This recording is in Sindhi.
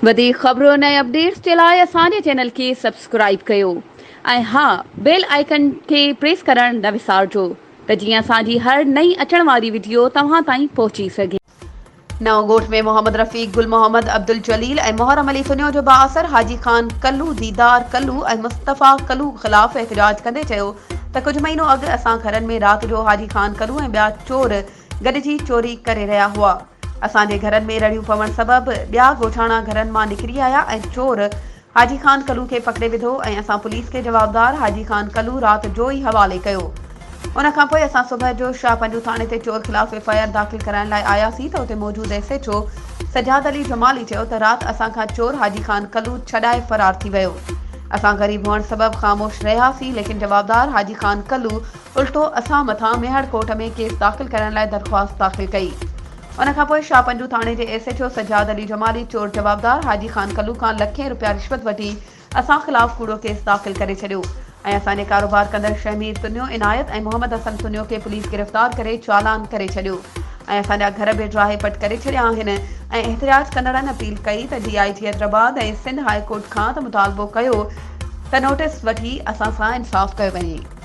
وڌيڪ خبرن ۽ اپڊيٽس جي لاء اسان جي چينل کي سبسڪرائيب ڪيو ۽ ها بيل آئيڪن کي پريس ڪرڻ نه وسارجو ته جيئن اسان جي هر نئين اچڻ واري وڊيو توهان تائين پهچي سگهي. نئون ڳوٺ ۾ محمد رفيق، گل محمد، عبدالجليل ۽ محرم علي سنيو جو بااثر حاجي خان ڪلو، ديدار ڪلو ۽ مصطفيٰ ڪلو خلاف احتجاج ڪندي چيو ته ڪجهه مهينو اڳ اسان گهرن ۾ رات جو حاجي خان ڪلو ۽ ٻيا چور گڏجي چوري ڪري رهيا هئا. اسان جي گهرن ۾ رڙيون پوڻ سبب ٻيا ڳوٺاڻا گهرن مان نڪري آيا ۽ چور حاجي خان ڪلو کي پڪڙي وڌو ۽ اسان پوليس کي جوابدار حاجي خان ڪلو رات جو ئي حوالي ڪيو. ان کان پوء اسان صبح جو شاهه پنجو ٿاڻي تي چور خلاف ايف آء آر داخل ڪرائڻ لاء آياسين ته اتي موجود S H O Sajjad Ali Jamali چيو ته رات اسان کان چور حاجي خان ڪلو ڇڏائي فرار ٿي ويو. اسان غريب هئڻ سبب خاموش رهياسين ليڪن جوابدار حاجي خان ڪلو الٽو اسان مٿان ميهڙ ڪورٽ ۾ ڪيس داخل ڪرڻ لاء درخواست داخل ڪئي. ان کان پوء شاهه پنجون ٿاڻي جي S H O Sajjad Ali Jamali چور جوابدار حاجي خان ڪلو کان لکين رپيا رشوت وٺي اسان خلاف ڪوڙو ڪيس داخل ڪري ڇڏيو ۽ اسان جي ڪاروبار ڪندڙ شهمير تنيو عنايت ۽ محمد حسن تنيو کي پوليس گرفتار ڪري چالان ڪري ڇڏيو ۽ اسان جا گهر به ڊاهي پٽ ڪري ڇڏيا آهن ۽ احتجاج ڪندڙن اپيل ڪئي ته D I G Hyderabad ۽ Sindh high court کان ته مطالبو ڪيو ته نوٽيس وٺي اسان سان انصاف ڪيو وڃي.